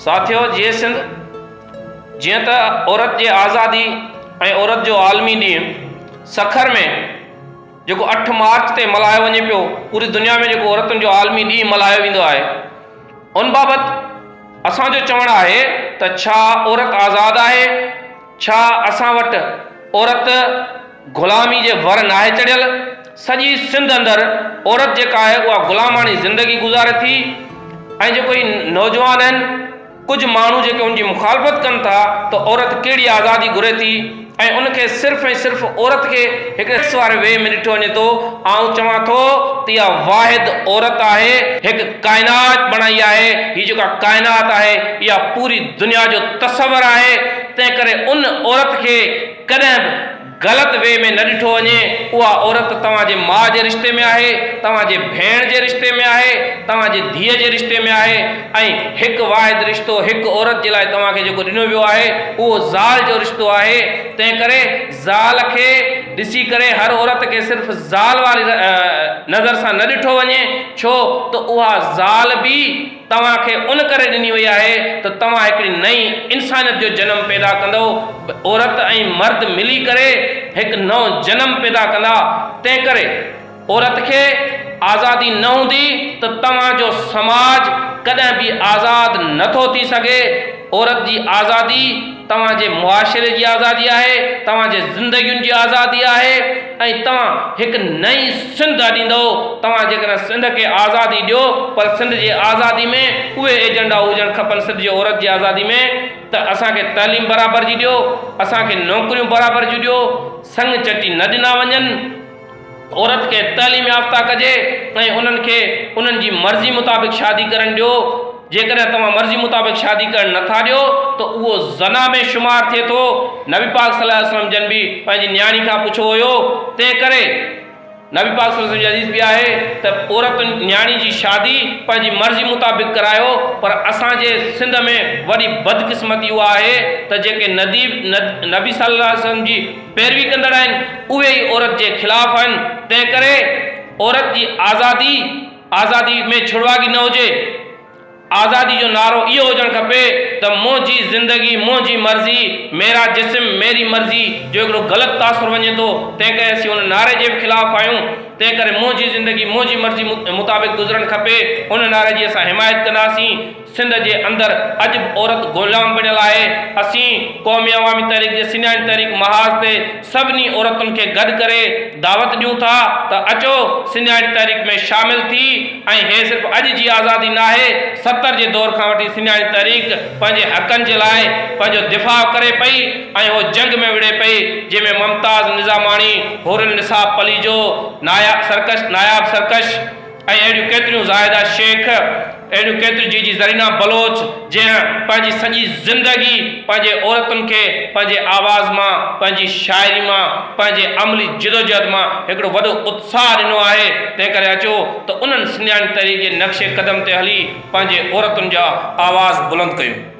ساٿيو جيئي سنڌ جيئن ته عورت جي آزادي ۽ عورت جو عالمي ڏينهن سکر ۾ جيڪو اٺ مارچ تي ملهايو وڃي پيو پوري دنيا ۾ جيڪو عورتن جو عالمي ڏينهن ملهايو ويندو آهي ان بابت اسان جو چوڻ آهي ته ڇا عورت آزاد آهي ڇا اسان وٽ عورت غلامي جي ور ناهي چڙهيل؟ سڄي سنڌ اندر عورت جيڪا آهي اها غلاماڻي زندگي گذاري ٿي ۽ جيڪو هي نوجوان آهن ڪجهه ماڻهو جيڪي ان جي مخالفت ڪن ٿا ته عورت ڪهڙي آزادي گهري ٿي ۽ ان کي صرف ۽ صرف عورت کي هڪڙي سيڪس واري وي ۾ ڏٺو وڃي ٿو آئون چوان ٿو ته اها واحد عورت آهي هڪ ڪائنات بڻائي آهي، هي جيڪا ڪائنات آهي اها پوري دنيا جو تصور آهي، تنهنڪري ان عورت کي ڪڏهن به غلط وي ۾ نه ڏٺو وڃي، اها عورت توهان جي ماء جي رشتي ۾ آهي، توهان جي ڀيڻ جي رشتي ۾ آهي، توهان جي ڌيء جي رشتي ۾ آهي ۽ هڪ واحد رشتو هڪ عورت جي لاء توهان کي جيڪو ڏنو ويو آهي اهو زال جو رشتو آهي، تنهنڪري. زال کي ڏسي ڪري هر عورت کي صرف زال واري نظر سان نه ڏٺو وڃي ڇو ته اها زال به توهان کي ان ڪري ڏني وئي آهي ته توهان هڪڙي نئين انسانيت جو جنم پيدا ڪندؤ عورت ۽ مرد ملي ڪري هڪ نئون جنم پيدا ڪندا تنهنڪري عورت کي آزادي نه هوندي ته توهان جو سماج ڪڏهن به آزاد نه ٿو ٿي سگهي، عورت جي آزادي توهان جي معاشري جي آزادي آهي، توهان جي زندگين جي آزادي آهي ۽ توهان هڪ نئين سنڌ اڏيندؤ، توهان جيڪڏهن سنڌ کي آزادي ڏيو پر سنڌ جي آزادي ۾ اهي ايجنڊا هجڻ کپن سنڌ جي عورت جي آزادي ۾ ته اسان کي تعليم برابر جي ڏيو، اسان کي نوڪريون برابر جون ڏيو، سڱ چٽي نه ڏنا وڃن. عورت کي تعليم يافته ڪجي ۽ انهن کي انهن جي مرضي مطابق شادي ڪرڻ ڏيو، جيڪڏهن توهان مرضي مطابق شادي ڪرڻ نه ٿا ڏيو ته اهو زنا ۾ شمار ٿئي ٿو، نبي پاڪ صلي الله عليه وسلم جن به پنهنجي نياڻي کان پڇو هيو تنهن ڪري نبي پاڪ صلي الله عليه وسلم جي حديث به آهي ته عورت نياڻي جي شادي پنهنجي مرضي مطابق ڪرايو پر اسان جي سنڌ ۾ وڏي بدقسمتي اها آهي ته جيڪي ندي نبي صلي الله عليه وسلم جي پيروي ڪندڙ آهن اهي ئي عورت جي خلاف آهن تنهن ڪري عورت جي آزادي آزادي ۾ ڇڙواڳي نه هجي آزادي جو نعرو اهو هجڻ کپي ته منهنجي زندگي منهنجي مرضي ميرا جسم ميري مرضي جو هڪڙو غلط تاثر وڃي ٿو تنهن ڪري اسين ان نعري جي به خلاف آهيون تنهن ڪري منهنجي زندگي منهنجي مرضي مطابق گذرڻ کپي ان نعري جي اسان حمايت ڪنداسين. سنڌ جي اندر اڄ به عورت غلام بڻيل آهي، اسين قومي عوامي تحريڪ جي سڃاڻي تحريڪ محاذ تي سڀني عورتن کي گڏ ڪري دعوت ڏيون ٿا ته اچو سڃاڻي تحريڪ ۾ شامل ٿي ۽ هي صرف اڄ جي آزادي ناهي ستر جي دور کان وٺي سڃاڻي تحريڪ پنهنجي حقن جي لاء پنهنجو دفاع ڪري پئي ۽ هو جنگ ۾ وڙهي پئي جنهن ۾ ممتاز نظاماڻي حورالنساء پليجو ناياب سرڪش ناياب سرڪش ۽ اهڙيون ڪيتريون زاهده شيخ، اهڙيون ڪيتريون جي جي زرينه بلوچ، جنهن پنهنجي سڄي زندگي پنهنجي عورتن کي پنهنجي آواز مان، پنهنجي شاعري مان، پنهنجي عملي جدوجهد مان هڪڙو وڏو اتساهه ڏنو آهي، تنهن ڪري اچو ته انهن سنڌياڻي تحريڪ جي نقش قدم تي هلي پنهنجي عورتن جا آواز بلند ڪيون.